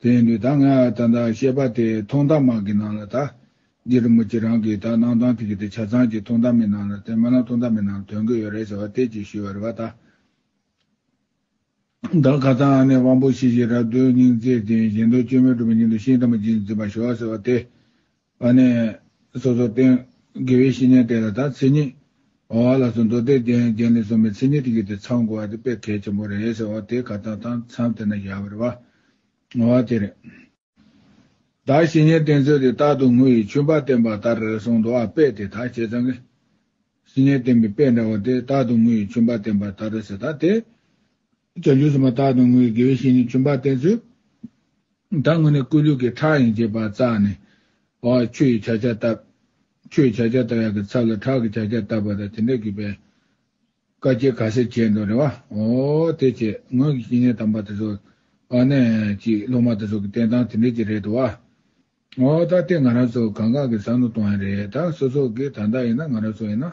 དེ་ཡིན་དུས་ད་སྔ་ད་ལྟ་བཤད་པ་དེ་ཐོག་མཐའ་མ་གི་ནང་ལ་ད། འདི་རུ་མོ་ཁྱེད་རང་གིས་ད་གནང་སྟངས་དེ་གི་དེ་ཆ་ཚང་གི་ཐོག་མཐའ་མའི་ནང་ལ་དེ་མ་ལ་ཐོག་མཐའ་མའི་ནང་དོན་གི་ཡོད་རེད་ཟེར་བ་དེ་ཅིག་ཞུས་བ་རེད་བ་ད། ད་ག་ད་ཨ་ནེ་དབང་པོ་ཤེས་བྱའི་རབ་སྟོན་སྙིང་བརྩེ་ལྡན་གཞན་དོན་སྤྱོད་མེད་གྲུབ་པའི་སྙིང་དུ་ཤིང་རྟ་མོ་རྗེས་འཛིན་པ་ཞུ་བ་ཟེར་བ་དེ། བ་ནས། སོ་སོར་བརྟེན། དགེ་བའི་བཤེས་གཉེན་དེ་ལ་དང་ཚིག་ཉིད། འོང་བ་ལ་སོགས་མདོ་སྡེ་གདན་རྒྱན་ལས་གསུངས་པའི་ཚིག་ཉིད་དུ་བརྒྱུད་དེ་ཚང་དགོས་པ་དེ་དཔེ་གལ་ཆེན་པོ་རེད་ཟེར་བ་དེ་ག་དང་དང་མཚམས་དེ་ན་བཞག་པར་བ། ངོ་བ་དེ་རེད། དག་བཤེས་གཉེན་བསྟེན་ཚུལ་དེ་རྟག་ཏུ་ངུ་ཡི་ཆུན་པ་བསྟེན་པ་ལྟར་གསུངས་འདུག་ཨ་དཔེ་དེ་དག་བྱས་ཙང། བཤེས་གཉེན་བསྟེན་པའི་དཔེ་འདྲ་བོ་དེ་རྟག་ཏུ་ངུ་ཡི་ཆུན་པ་བསྟེན་པ་ལྟར་ཟེར་ད་དེ། བྱ་རྒྱུད་གསུམ་པ་རྟགས་དང་དངོས་ཀྱི་དགེ་བའི་བཤེས་གཉེན་བྱོན་པར་བསྟན་ཚུལ། ད་སྔོན་ནས་བསྐུལ་ལུས་ཀྱི་ཁྲག་ཡིན་ཅེས་པ་བཙགས་ནས། བ་ཆུ་ཡི་བྱ་བརྒྱ་བཏབ། ཆུ་ཡི་བྱ་བརྒྱ་བཏབ་ཡག་གི་ཚབ་ལ་ཁྲག་གི་བྱ་བརྒྱ་བཏབ་པ་དང་དེ་འདྲ་གུས་པས། བཀའ་སྐྱེལ་ག་སེ་བྱས་འདུག་རེད་བ། འོ། དེ་བྱས་དངོས་ཀྱི་བཤེས་གཉེན་དམ་པ་དེ་ཚོ། བ་ནས་ཀྱི་སློབ་མ་དེ་ཚོ་གི་བསྟན་སྟངས་དེ་འདྲས་ཀྱི་རེད་འདུག་བ། འོ། ད་ལྟའི་ང་རང་ཚོ་གང་གང་གི་བསམ་བློ་གཏོང་ཡ་རེད་ད། སོ་སོ་གི་ད་ལྟ་ཡིན་ན་ང་རང་ཚོ་ཡིན་ན།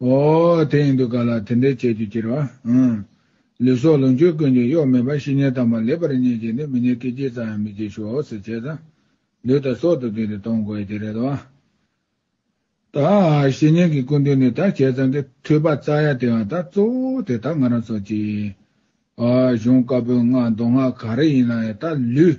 འོ། དེ་ཡིན་འདུག་ག་ལ་དེ་འདྲའི་བྱེད་རྒྱུ་ཅིར་བ། ལུས་སྲོག་ལོངས་སྤྱོད་ཀུན་གྱི་གཡོག་མེད་པར་བཤེས་གཉེན་དམ་པ་ལེགས་པར་རྙེད་ཅིག་ནི་མི་ནས་སྐད་ཅིག་ཙམ་ཡང་མི་བྱེད་ཤོག་ཟེར་བྱས་ཙང། ལུས་དང་སྲོག་ཏུ་བརྩིས་ཏེ་གཏོང་དགོས་ཀྱི་རེད་བ། ད། བཤེས་གཉེན་གྱི་སྐུ་མདུན་ནས་ད་བྱས་ཙང་གི་ཐོས་པ་རྩ་ཡ་དེའང་ད་གཙོ་བོ་དེ་ད་ང་རང་ཚོ་གཅིག། གཞུང་བཀའ་པོད་ལྔ་མདོ་སྔགས་ག་རེ་ཡིན་ན་ཡང་ད་ལུས།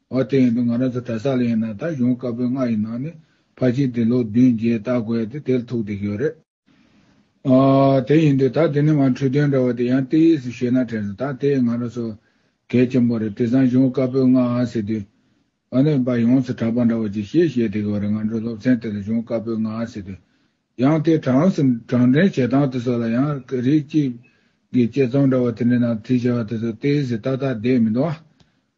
འོ་དེ་ཡིན་དུས་ང་རང་ཚོ་གྲྭ་ས་ལ་ཡིན་ན་ད་གཞུང་བཀའ་པོད་ལྔ་ཡི་ནང་ནས་ཕ་གཅིག་དེ་ལོ་བདུན་བརྒྱད་བལྟ་དགོས་ཏེ་དེར་ཐུག་བསྡད་ཀྱི་ཡོད་རེད། འོ་དེ་ཡིན་དུས་ད་དེ་ནི་མ་འཁྲུལ་དོན་འདྲ་བ་དེ་ཡང་ཏི་ཡིས་ཤེས་ན་དྲན་སོང་ད་དེ་ང་རང་ཚོ་གལ་ཆེན་པོ་རེད་དེ་སང་གཞུང་བཀའ་པོད་ལྔ་ཟེར་དུས། འོ་ནི་བ་ཡོངས་སུ་གྲགས་པ་འདྲ་བ་ཅིག་ཤེས་བཤད་བསྡད་ཀྱི་ཡོད་རེད་ང་ཚོའི་སློབ་ཚན་དེ་ལ་གཞུང་བཀའ་པོད་ལྔ་ཟེར་དུས། ཡང་དེ་གྲངས་སུ་གྲངས་འདྲེན་བྱེད་སྟངས་དེ་ཚོ་ལ་ཡང་རིགས་གཅིག་གི་དཔྱད་རྩོམ་འདྲ་བ་དེ་འདྲའི་ནང་དེ་བྱ་བ་དེ་ཚོ་ཏི་ཡིས་ཏག་ཏག་བསྡད་མི་འདུག་ཨ།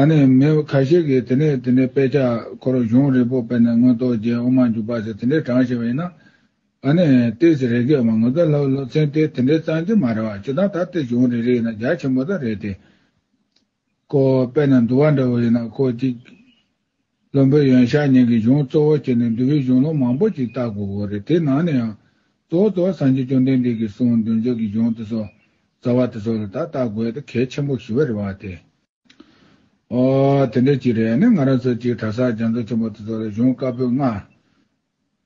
ཨ་ནི་མི་ཁ་ཤས་ཀྱིས་དེ་ནས་དེ་འདྲའི་དཔེ་ཆ་ཁོ་རང་གཞུང་རིང་པོ་སྤེལ་ནས་མངོན་རྟོགས་རྒྱའི་དབུ་མ་འཇུག་པ་ཟེར་དེ་འདྲའི་གྲངས་ཆེ་བ་ཡིན་ན། ཨ་ནི་ཏི་སི་རེ་སྐད་བ་ངོ་ཚ་ལྷག་ལྷུ་ཚན་ཏི་དེ་འདྲའི་གཙང་གྱི་མ་རེད་བ་སྤྱིར་བཏང་ད་ཏི་གཞུང་རེ་རེ་ཡིན་ན་རྒྱ་ཆེན་པོ་དག་རེད་དེ། ཁོ་དཔེ་ན་འདུ་བ་འདྲ་བོ་ཡིན་ན་ཁོ་གཅིག། བློན་པོའི་ཡོན་ཞག་གཉིས་ཀྱི་གཞུང་གཙོ་བོར་བྱས་ནས་འདུལ་བའི་གཞུང་ལུགས་མང་པོ་ཞིག་བརྟག་དགོས་དགོས་རེད་དེའི་ནང་ནས་ཡང། གཙོ་བོ་གཙོ་བོ་སངས་རྒྱས་བཅོམ་ལྡན་འདས་ཀྱིས་གསུངས་མདུན་ཅོག་གི་གཞུང་དེ་ཚོ། རྩ་བ་དེ་ཚོ་ལ་དག་བརྟག་དགོས་དེ་གལ་ཆེན་པོ་ཞིག་རེད་བ་དེ། ཨོ། དེ་འདྲ་ཅིག་རེད་ནི་ང་རང་ཚོ་གཅིག་གྲྭ་སར་རྒྱ་མཚོ་ཆེན་པོ་དེ་ཚོ་ལ་གཞུང་བཀའ་པོད་ལྔ།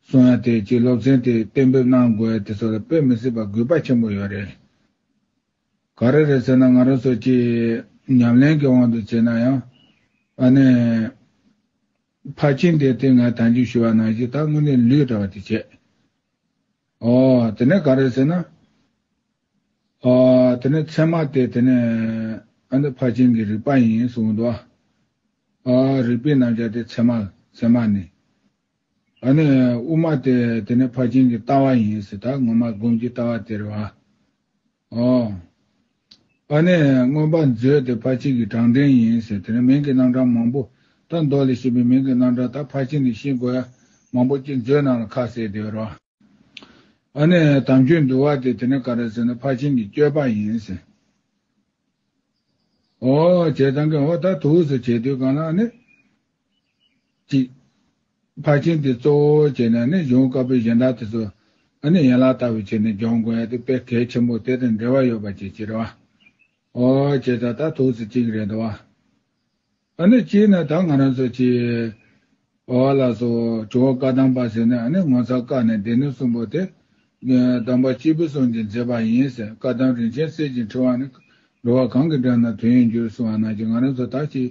གསུང་ཡ་དེ་གཅིག་སློབ་ཚན་དེ་གཏན་འབེབས་གནང་དགོས་དེ་ཚོ་ལ་དཔེ་མི་སྲིད་པ་གུས་པ་ཆེན་པོ་ཡོད་རེད། ག་རེ་རེད་ཟེར་ན་ང་རང་ཚོ་སྤྱིར་ཉམས་ལེན་གྱི་དབང་དུ་བྱས་ན་ཡང། ཨ་ནི། ཕར་ཕྱིན་དེ་སྟེང་ངས་དམ་འཇུག་ཞུ་བ་ནང་བཞིན་ད་དངོས་གནས་ལུས་འདྲ་བ་དེ་བྱས། ཨོ། དེ་ནས་ག་རེ་ཟེར་ན། ཨོ། དེ་ནས་མཚན་མ་དེ་དེ་ནས། ཨ་འདི་ཕར་ཕྱིན་གྱི་རིག་པ་ཡིན་གསུངས་འདུག་ཨ། ཨོ། རིག་པའི་རྣམ་བཞག་དེ་མཚན་མ་མཚན་མ་ནི། ད་ནི་དབུ་མ་སྟེ་དེ་ནི་ཕར་ཕྱིན་གྱི་ལྟ་བ་ཡིན་སྲིད་ད་སྔོན་མ་སྒོམ་གྱི་ལྟ་བ་དེར་བ། ཨོ། ཨ་ནི་མངོན་པར་མཛོད་དེ་ཕར་ཕྱིན་གྱི་གྲངས་འདྲེན་ཡིན་སྲིད་དེ་ནི་མིང་གི་རྣམ་གྲངས་མང་པོ་དང་མདོ་ལས་བཤད་པའི་མིང་གི་རྣམ་གྲངས་དག་ཕར་ཕྱིན་ནས་ཤེས་དགོས་ཡ་མང་པོ་སྐྱེས་མཛོད་རྣམས་ལ་ཁ་གསལ་དེ་བར་བ། ཨ་ནི་དམ་ཆོས་འདུལ་བ་སྟེ་དེ་ནི་ག་རེ་ཟེར་ན་ཕར་ཕྱིན་གྱི་སྤྱོད་པ་ཡིན་སྲིད། ཨོ། བྱས་ཙང་གིས་འོ་ད་དུས་སུ་བྱས་དུས་གང་ལ་ཨ་ནི། གཅིག། ཕར་ཕྱིན་དེ་གཙོ་བོ་བྱས་ནས་ནི་གཞུང་དཀར་པོའི་གཞན་དག་དེ་ཚོ་ནི་ཡན་ལག་ལྟ་བུ་བྱས་ནས་སྦྱོང་དགོས་ཡ་དེ་དཔེ་གལ་ཆེན་པོ་དེ་དང་འབྲེལ་བ་ཡོད་པ་ཅིག་ཅེས་རེད་བ། ཨོ་ཅེས་ད་ལྟ་ཐུགས་སུ་གཅིག་རེད་འདུག་བ། ནི་གཅིག་ནི་ད་ང་རང་ཚོ་གཅིག། བ་ལ་སོ་ཇོ་བོ་བཀའ་གདམས་པ་ཟེར་ནས་ནི་ངོ་ཚ་བཀག་ནས་སྡེ་སྣོད་གསུམ་པོ་དེ། གདམས་པ་གཅིག་པུ་གསུངས་ཀྱིན་མཛད་པ་ཡིན་ཟེར་བཀའ་གདམས་རིན་ཆེན་གསེར་གྱི་འཕྲེང་བ་ནི་འགྲོ་བ་གང་གི་འགྲམ་ན་དོན་ཡོད་འགྱུར་གསུང་བ་ནང་གི་ང་རང་ཚོ་དག་གཅིག་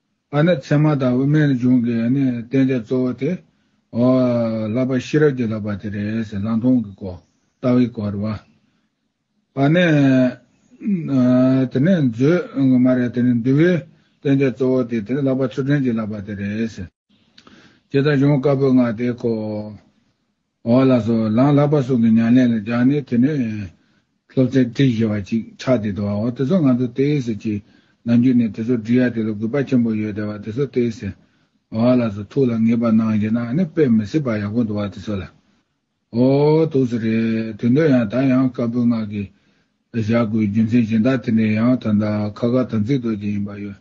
ཨ་ནི་མཚན་མ་དང་དབུ་མའི་གཞུང་གི་བསྟན་བྱ་གཙོ་བོ་དེ། བསླབ་པ་ཤེས་རབ་ཀྱི་བསླབ་པ་དེ་རེད། ལང་སྟོང་གི་སྐོར། ལྟ་བའི་སྐོར། བ། ཨ་ནི། དེ་ནས་མཛོད། མ་རེད། འདུལ་བའི་བསྟན་བྱ་གཙོ་བོ་དེ་དེ་བསླབ་པ་ཆུ་ཕྲན་གྱི་བསླབ་པ་དེ་རེད། ཅེས་དང་གཞུང་བཀའ་པོད་ལྔ་དེ་ཁོ། འོག་ལ་སོགས་ལངས་ལག་པ་སོགས་ཀྱི་མྱང་ལན་ལ་སྦྱར་ནས་དེ་ནས། སློབ་ཚན་བྲི་ཞེས་པ་ཅིག་ཆགས་ཏེ་འདུག་བའོ་དེ་ཚོ་ང་ཚོ་ཏེ་ཟེར་གྱི། ནམ་རྒྱུན་ནས་དེ་ཚོ་འབྲི་ཡ་དེ་ལ་གུས་པ་ཆེན་པོ་ཡོད་དེ་བ་དེ་ཚོ་ཏེ་ཟེར། འོག་ལ་སོགས་ཐུགས་ལ་ངེས་པར་སྣང་ཞེ་ན་ནི་དཔེ་མི་སྲིད་པ་ཡག་པོ་འདུག་བ་དེ་ཚོ་ལ། འོ། དུག་སེ་རེད། དུས་འདིར་ཡང་ད་ཡང་དཀར་པོའི་སྔགས་ཀྱིས། བཞག་དགོས་རྒྱུ་མཚན་གཞན་དག་དེ་ནས་ཡང་ད་ལྟ་ཁ་ཁ་དམ་ཚིག་རྡོ་རྗེ་ཡིན་པ་ཡོད་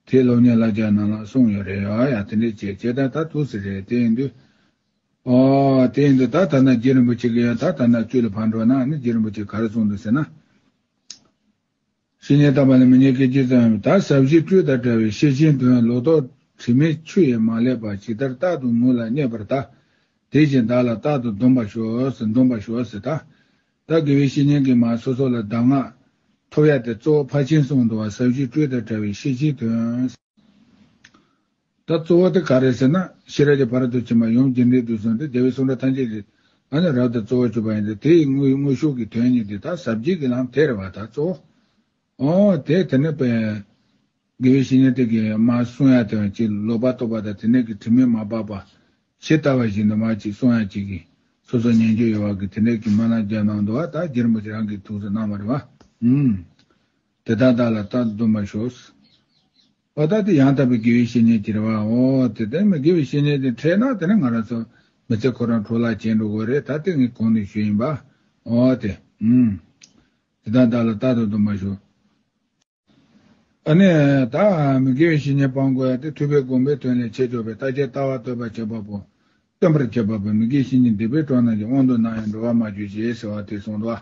དེ་སློབ་གཉེར་བླ་རྒྱ་ནང་ལ་གསུངས་ཡོད་རེད་ཨ་ཡ་དེ་འདྲས་བྱས་བྱས་ད་ད་དུག་སེ་རེད་དེ་ཡིན་དུས། དེ་ཡིན་དུ་ད་ལྟ་ན་རྗེ་རིན་པོ་ཆེ་གི་ཡང་ད་ལྟ་ན་བཅུད་ལ་ཕར་འགྲོ་ན་ནི་རྗེ་རིན་པོ་ཆེ་ག་རེ་གསུངས་འདུག་ཟེར་ན། ཤི་ཉེས་བཏབ་པ་ལས་མི་ཉེས་སྐད་ཅིག་ཙམ་ཡིན་པ་ད་ཟབ་ཞི་སྤྲོས་དང་བྲལ་བའི་ཤེར་ཕྱིན་དོན་ལོག་རྟོག་དྲི་མེད་ཆུ་ཡིས་མ་བསླད་པ་ཇི་ལྟར་རྟག་ཏུ་ངུ་ལ་སྙད་པར་ད་དེ་བཞིན་བདག་ལ་རྟག་ཏུ་སྡོམ་པར་ཤོག་ཟེར་འདོམས་པར་ཤོག་ཟེར་ད་ལྟ་དགེ་བའི་བཤེས་གཉེན་གྱིས་མ་སོ་སོ་ལ་གདམས་ངག་ཐོབ་ཡ་དེ་གཙོ་བོ་ཕར་ཕྱིན་གསུངས་འདུག་བ་ཟབ་ཞི་སྤྲོས་དང་བྲལ་བའི་ཤེར་ཕྱིན་དོན། ད་གཙོ་བོ་དེ་ག་རེད་ཟེར་ན་ཤེས་རབ་ཀྱི་བར་དོ་ཕྱི་མ་ཡོངས་རྒྱུན་ལྡན་དུ་སོང་སྟེ་རྒྱལ་བའི་གསུང་སྒྲ་ཐམས་ཅད་ཀྱི་ང་ནི་རབ་ཏུ་གཙོ་བོར་གྱུར་པ་ཡིན་ཏེ་དེ་ཡི་དངོས་དངོས་ཤུགས་ཀྱི་དོན་ཉིད་དེ་དག་ཟབ་རྒྱས་ཀྱི་ལམ་དེར་བ་དག་གཙོ་བོ། འོ་དེས་དེ་ནི་དཔེ། དགེ་བའི་བཤེས་གཉེན་དེ་གའི་མ་གསུང་ཡང་དེ་བ་གཅིག་ལོག་པར་རྟོག་པ་དང་དེ་ནས་ཀྱི་དྲི་མས་མ་སྦགས་པ། ཇི་ལྟ་བ་བཞིན་དུ་མ་གཅིག་གསུང་ཡང་གཅིག་གིས་སོ་སོར་ཉན་རྒྱུ་ཡོད་བར་གྱི་དེ་ནས་ཀྱི་མ་རྣམས་རྒྱབ་ནང་དུ་བ་དག་གྱེར་མོ་ཅིག་རང་གིས་ཐུགས་སུ་གནང་བར་བ། དེ་དག་བདག་ལ་བལྟ་འདོད་མ་ཤོག། བ་བདག་དེ་ཡང་དག་པའི་དགེ་བའི་བཤེས་གཉེན་གྱི་རེ་བའོ། དེ་ལྟར་ཡིན་པའི་དགེ་བའི་བཤེས་གཉེན་དེ་འཕྲད་ན་དེ་ནི་ང་རང་ཚོ་མི་ཚེ་ཁོ་རང་ཁྲོ་ལག་ཅན་འགྲོ་དགོས་རེད་ད་དེ་ངའི་གོང་ནས་ཞུས་ཡིན་པའོ། དེ་ཨུན། དེ་དག་བདག་ལ་རྟག་ཏུ་དུ་མ་ཞུ། ཨ་ནི། ད་མི་དགེ་བའི་བཤེས་གཉེན་སྤང་དགོས་དེ་ཐུབ་པའི་དགོངས་པའི་དོན་ལས་ཆེ་ཆོག་པའི་རྟགས་ཅན་ལྟ་བ་སྟོན་པར་བྱེད་པ་པོ། སྟོན་པར་བྱེད་པ་པོ་མི་དགེ་བཤེས་གཉེན་སྡིག་པའི་གྲོགས་རྣམས་ཀྱི་དབང་དུ་སྣང་ཡང་འགྲོ་བར་མ་གྱུར་ཅིག་ཟེར་བ་དེ་གསུངས་ལ།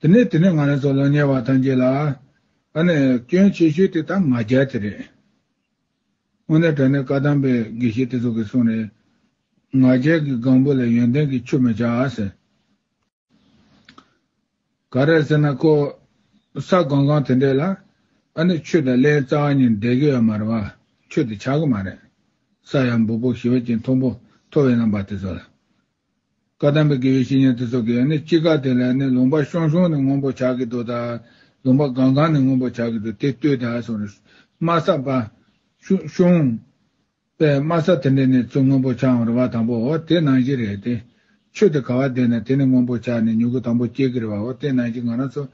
དེ་ནས་དེ་ནས་ང་རང་ཚོ་ལོ་ཉེ་བ་ཐམས་ཅད་ལ། ཨ་ནི་སྐྱོན་ཆེ་ཤོས་དེ་ད་ང་རྒྱལ་དེ་རེད། དངོས་གནས་དྲ་གནས་བཀའ་གདམས་པའི་དགེ་བཤེས་དེ་ཚོ་གིས་གསུངས་ནས། ང་རྒྱལ་གྱི་སྒང་བུ་ལ་ཡོན་ཏན་གྱི་ཆུ་མི་བྱ་ཟེར། ག་རེད་ཟེར་ན་ཁོ། ས་སྒང་སྒང་དེ་འདྲས་ལ། ཨ་ནི་ཆུ་དང་བརླའི་རྩ་བ་གཉིས་འདྲེས་གི་ཡོད་མ་རེད་བ། ཆུ་དེ་ཆག་གི་མ་རེད། ས་ཡང་འབུར་བོ་ཞི་བ་ཅན་མཐོང་བོ་མཐོ་བའི་རྣམ་པ་དེ་ཚོ་ལ། བཀའ་གདམས་པའི་དགེ་བའི་བཤེས་གཉེན་དེ་ཚོ་གིས་ནི་ཅི་དགའ་དེ་ལས་ནི་ལུང་པ་ཤོང་ཤོང་ནི་སྔོན་པོ་བྱ་གི་འདུག་ད། ལུང་པ་གང་གང་ནི་སྔོན་པོ་བྱ་གི་འདུག་དེ་ལྟོས་ད་སོང་རེ། སྨ་ས་པ། ཤོང། པས་སྨ་ས་དེ་འདྲས་ནི་ཚུ་སྔོན་པོ་བྱའང་རེ་བ་དང་པོ་འོ་དེ་ནང་བཞིན་རེད་དེ། ཆོས་དེ་ག་བ་བསྡད་ནས་དེ་ནི་སྔོན་པོ་བྱ་ནི་མྱུ་གུ་དང་པོ་སྐྱེ་གི་རེ་བ་འོ་དེ་ནང་བཞིན་ང་རང་ཚོ།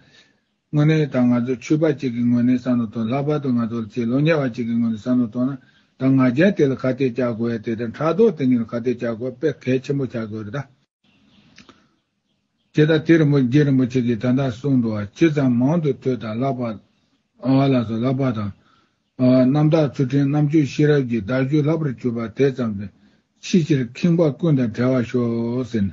དངོས་གནས་ད་ང་ཚོ་ཆོས་པ་གཅིག་གི་ངོས་ནས་བསམ་བློ་གཏོང་ལྷག་པར་དུ་ང་ཚོ་ལ་ཆེས་ལོ་ཉེ་བ་གཅིག་གི་ངོས་ནས་བསམ་བློ་གཏོང་ན་ད་ང་རྒྱལ་དེ་ལ་ཁ་གཏད་བཅག་དགོས་ཡ་དེ་ལྟར་ཕྲག་དོག་དེ་གཉིས་ལ་ཁ་གཏད་བཅག་དགོས་པས་གལ་ཆེན་པོ་ཆགས་དགོས་རེད་ད། བྱས་ད་དེ་རིན་པོ་རྗེ་རིན་པོ་ཆེ་གིས་ད་ལྟ་གསུངས་འདུག་བ་ཇི་ཙམ་མང་དུ་ཐོས་དང་ལྷག་པར་ཨ་ལགས་སུ་ལྷག་པར་དང། རྣམ་དག་ཚུལ་ཁྲིམས་རྣམ་དཔྱོད་ཤེས་རབ་ཀྱི་བརྡར་ཤུལ་ལྷག་པར་གྱུར་པ་དེ་ཙམ་དུ་ཕྱི་ཕྱིར་ཁེངས་པ་ཀུན་དང་བྲལ་བར་ཤོག་ཟེར་ནས།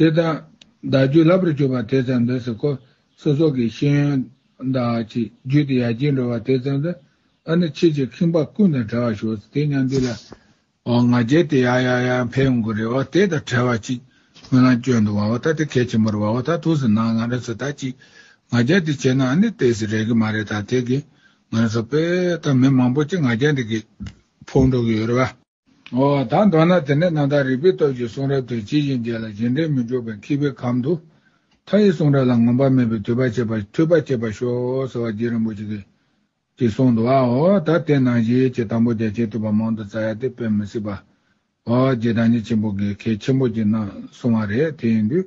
དེ་ལྟར་བདག་རྒྱུད་ལྷ་བུར་གྱུར་པ་དེ་ཙམ་དུ་སོ་སོ་སོགས་ཀྱི་ཤེས་ཡོན་དག་གི་རྒྱུད་དུ་ཡར་རྒྱས་འགྲོ་བ་དེ་ཙམ་དུ་ཨ་ནི་ཁྱེད་ཀྱི་ཁེངས་པ་ཀུན་དང་བྲལ་བར་ཤོག་དེ་སྙམ་དུས་ལ། འོ་ང་རྒྱལ་དེ་ཡར་ཡར་ཡར་འཕེལ་ཡོང་གི་རེད་བ་དེ་དང་བྲལ་བ་ཅིག་ཁོ་ན་སྐྱོན་འདུག་བ་བ་ད་དེ་གལ་ཆེན་པོར་བ་བ་ད་ཐུགས་སུ་སྣང་ང་རང་ཚོ་ད་ཅིག་ང་རྒྱལ་དེ་བྱས་ན་ཨ་ནི་དེ་སུ་རེག་གི་མ་རེད་ད་དེ་གིས་ང་རང་ཚོ་དཔེ་ད་མི་མང་པོ་ཅིག་ང་རྒྱལ་འདི་གིས་ཕོག་འགྲོ་གི་ཡོད་རེད་བ། ད་མདོར་ན་དེ་ནས་རྣམ་དག་རིག་པའི་སྟོབས་ཀྱིས་གསུང་རབ་དེ་ཇི་བཞིན་རྒྱས་ལ་རྗེས་འབྲེལ་མི་འཇུག་པའི་འཁྱིལ་པའི་གམ་དུ། མཐའ་ཡས་གསུང་རབ་ལ་ངོམས་པ་མེད་པའི་དུས་པ་བྱེད་པ་འཐུས་པ་བསྐྱེད་པར་ཤོག་ཟེར་བ་རྗེ་རིན་པོ་ཆེ་གིས་ཀྱིས་གསུང་འདུག་ཨའོ་ད་དེ་ནང་བཞིན་གྱི་དང་པོ་རྒྱ་ཆེའི་དུས་པ་མང་དུ་བཙལ་ཡ་དེ་དཔེ་མི་སྲིད་པ། ཨོ་རྒྱལ་བདག་ཉིད་ཆེན་པོ་གིས་གལ་ཆེན་པོ་གྱིས་གནང་གསུང་བ་རེད་དེ་ཡིན་དུས།